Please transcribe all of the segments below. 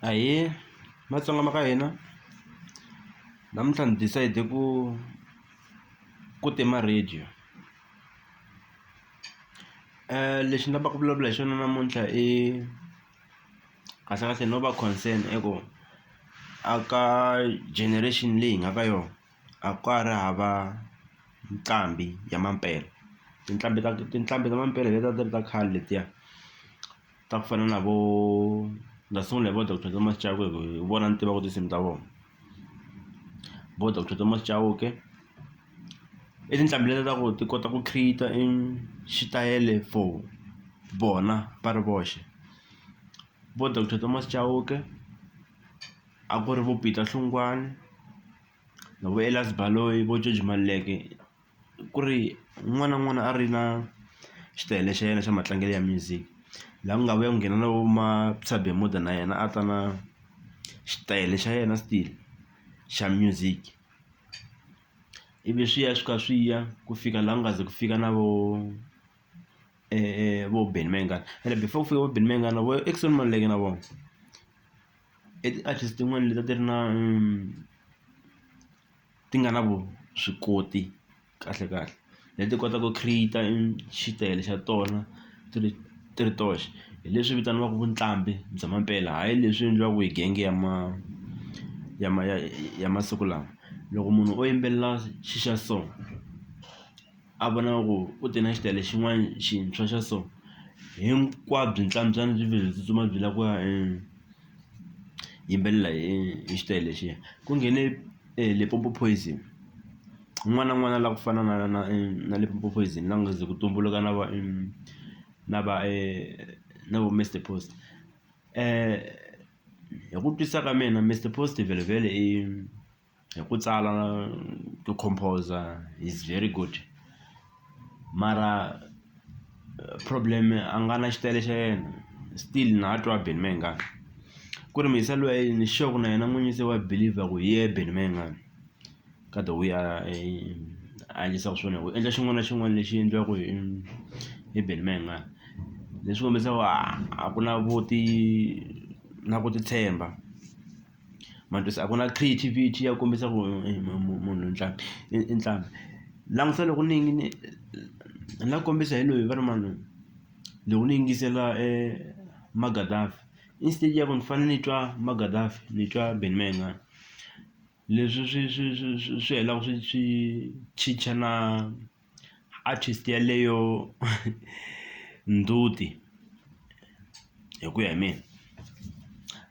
Ahee, matsonga ma ka hina namuntlha ni decide ku ku tima radio lexi ni lavaka ku vulavula hi xona namuntlha i kahlekahle no va concern i ku a ka generation leyi hi nga ka yona. a ka ha ri hava nqambi ya mampela tinqambi ta tinqambi ta mampela hi leti a ti ri ta khale letiya ta ku fana na vo ni nga sungula hi vo doctor Thomas Chauke ku hi vona ni tivaka tinsimu ta vona vo doctor Thomas Chauke i tinqambi leti ta ku ti kota ku create-a i xitayele for vona va ri voxe vo doctor Thomas Chauke a ku ri vo Peter Hlungwani na vo Elias Baloyi vo George Maluleke ku ri un'wana na un'wana a ri na xitayele xa yena xa matlangelo ya music laha ku nga vuya ku nghena na vo Mabsa Bemuda na yena a ta na xitayele xa yena still xa music ivi swi ya swi kha swi ya ku fika laha ku nga ze ku fika na vo vo Benny Mayengani ene before ku fika vo Benny Mayengani na vo Eckson Maluleke na vona. I ti-artist tin'wani leti a ti ri na ti nga na vuswikoti kahle kahle leti kota ku create-a xitayele xa tona ti ri ti ri toxe hi leswi vitaniwaku vuqambhi bya mampela hayi leswi endliwaku hi genge ya ma ya ma ya ya masiku lawa loko munhu o yimbelela xi xa so. a vona ku ku te na xitayele xin'wana xintshwa xa so hinkwabyo ntlantswana byi vhele byi tsutsuma byi lava ku ya yimbelela hi hi xitayele lexiya ku nghene Limpopo Poison un'wana na un'wana a lava ku fana na na na Limpopo Poison la nga ze ku tumbuluka na va na va na vo Mister Post hi ku twisisa ka mina Mister Post vhele vhele i hi ku tsala ku composer he's very good mara problem a nga na xitayele xa yena still na ha twa Benny Mayengani ku ri muyiselo wa yini sure ku na yena n'winyi se wa believer ku hi yena Benny Mayengani ka the way a a endlisaka swona hi ku endla xin'wana na xin'wana lexi endliwaka hi hi Benny Mayengani leswi kombisaka a ku na vo ti na ku titshemba. majozi a ku na creativity ya kombisa ku munhu ntlhanu i ntlhanu langusa loko ni yingine ni nga kombisa hi loyi va ri mani loko ni yingisela e magadafi instead ya ku ni fanele ni twa magadafi ni twa Benny Mayengani leswi swi swi swi swi swi helaka swi swi chicha na Artist yaleyo ndzhuti hi ku ya hi mina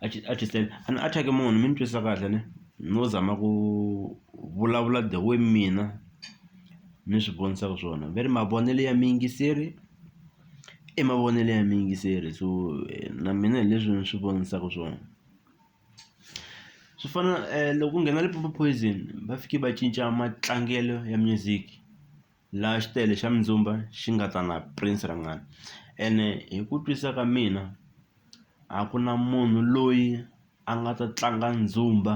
artist a ni a thyaki munhu mi ni twisisa kahle ne no zama ku vulavula the way mina ni swi vonisaka swona ve ri mavonelo ya muyingiseri i mavonelo ya muyingiseri so na mina hi leswi ni swi vonisaka swona. swi fana loko ku nghena Limpopo Poison va fike va cinca matlangelo ya music laha xitayele xa mindzumba xi nga ta na Prince Rangani ene hi ku twisisa ka mina a ku na munhu loyi a nga ta tlanga ndzumba.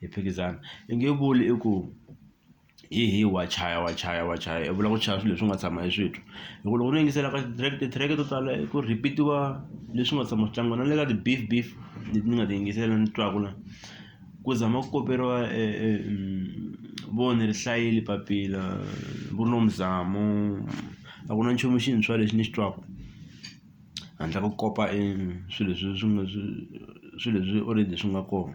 hi phikizana i nge vuli i ku hi hi wa chaya wa chaya wa chaya i vula ku chaya swilo leswi nga tshama hi switwa hi ku loko no yingisela ka ti-track ti-track to tala ku repeat-iwa leswi nga tshama swi tlangiwa na le ka ti-beef beef leti ni nga ti yingisela ni twaku la ku zama ku koperiwa vo ni ri hlayile papila vo Nomzamo a ku na nchumu xintshwa lexi ni xi twaku handle ko kopa e swilo leswi swi nga swi swilo leswi already swi nga kona.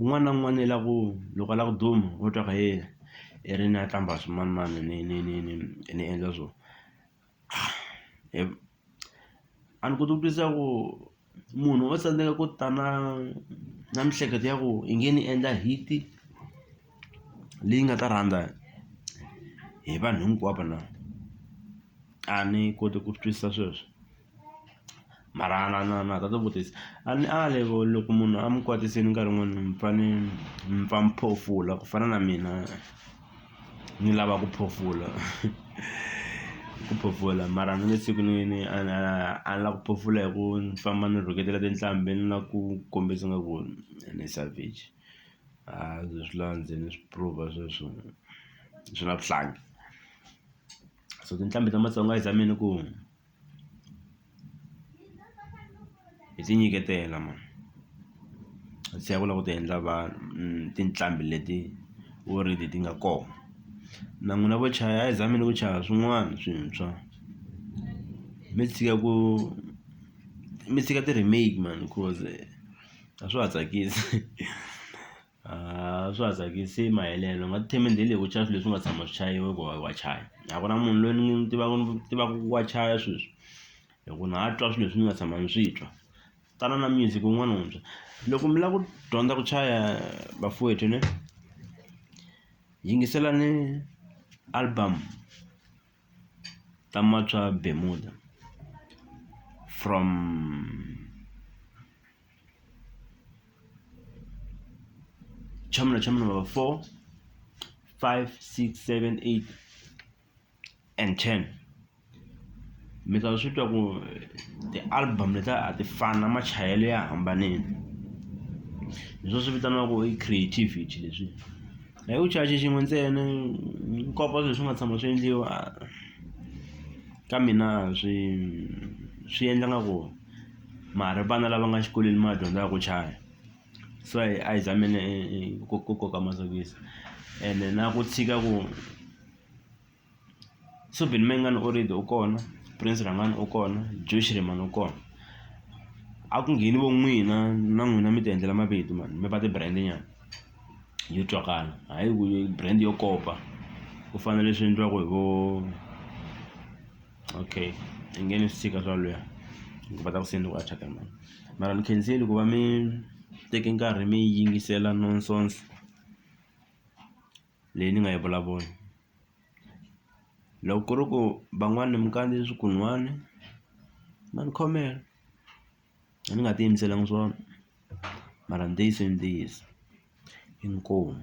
Un'wana na un'wana i la ku loko a la ku duma wo twa ku hee i ri ni ya qambha swimanimani ni ni ni ni ni endla swo a ni koti ku twisisa ku munhu o tsandzeka ku ta na na mihleketo ya ku i nge ni endla hit-i leyi nga ta rhandza hi vanhu hinkwavo na a ni koti ku swi twisisa sweswo. mara a na na na ta ti vutisa a ni ali ku loko munhu a mi kwatisini nkarhi wun'wani mi fa ni mi pfa mi phofula ku fana na mina ni lava ku phofula ku phofula mara ni nge tshuki ni ni a ni a ni la ku phofula hi ku ni famba ni rhuketela tinhlambi ni la ku kombisa nga ku ni savage a swi swi la ndzeni ni swi prove sweswo swi la vuhlangi so tinhlambi ta matsonga i za mina ku. hi ti nyiketela mhana hi tlhela ku lava ku ti endla vanhu tinqambi leti already ti nga kona na n'wina vo chaya a hi zameni ku chaya swin'wana swintshwa mi tshika ku mi tshika ti-remake mhani coz a swa ha tsakisi. A swa ha tsakisi i mahelela u nga ti thembi ndlela leyi ku chaya swilo leswi nga tshama swi chayiwa ku wa wa chaya a ku na munhu loyi ni n'wi tivaka ni tivaka ku wa chaya sweswi hi ku na twa swilo leswi ni nga tshama ni swi twa tana na music wun'wana wuntshwa loko mi lava ku dyondza ku chaya bafowethu ne yingiselani album ta Macwa Bemuda from. chama na chama number 4 5 6 7 8 and 10 mi ta swi twa ku ti-album leta a ti fana machayelo ya hambanile leswo swi vitaniwaku i creativity leswi hi ku chache xin'we ntsena nkopa swilo swi nga tshama swi endliwa ka mina swi swi endla nga ku mara vana lava nga xikolweni ma dyondza ku chaya so a hi a hi zameni ku ku koka masokisi ene na ku tshika ku Suvin Mengani already u kona Prince Rhangani u kona Joe Shirimani u kona a ku ngheni vo n'wina na n'wina mi ti endlela mavito mani mi va ti-brand nyana yo twakala hayi ku brand yo kopa ku fana na leswi endliwaku hi vo. okay angeni swi tshika swa lweha ni kota ku se ni ku attack-a mani mara ni khenseli ku va mi teke nkarhi mi yingisela nonsense leyi ni nga yi vulavula loko ku ri ku van'wani mi kandzile swikun'wani ma ni khomela a ni nga ti yimiselanga swona mara ntiyiso i ntiyiso inkomu.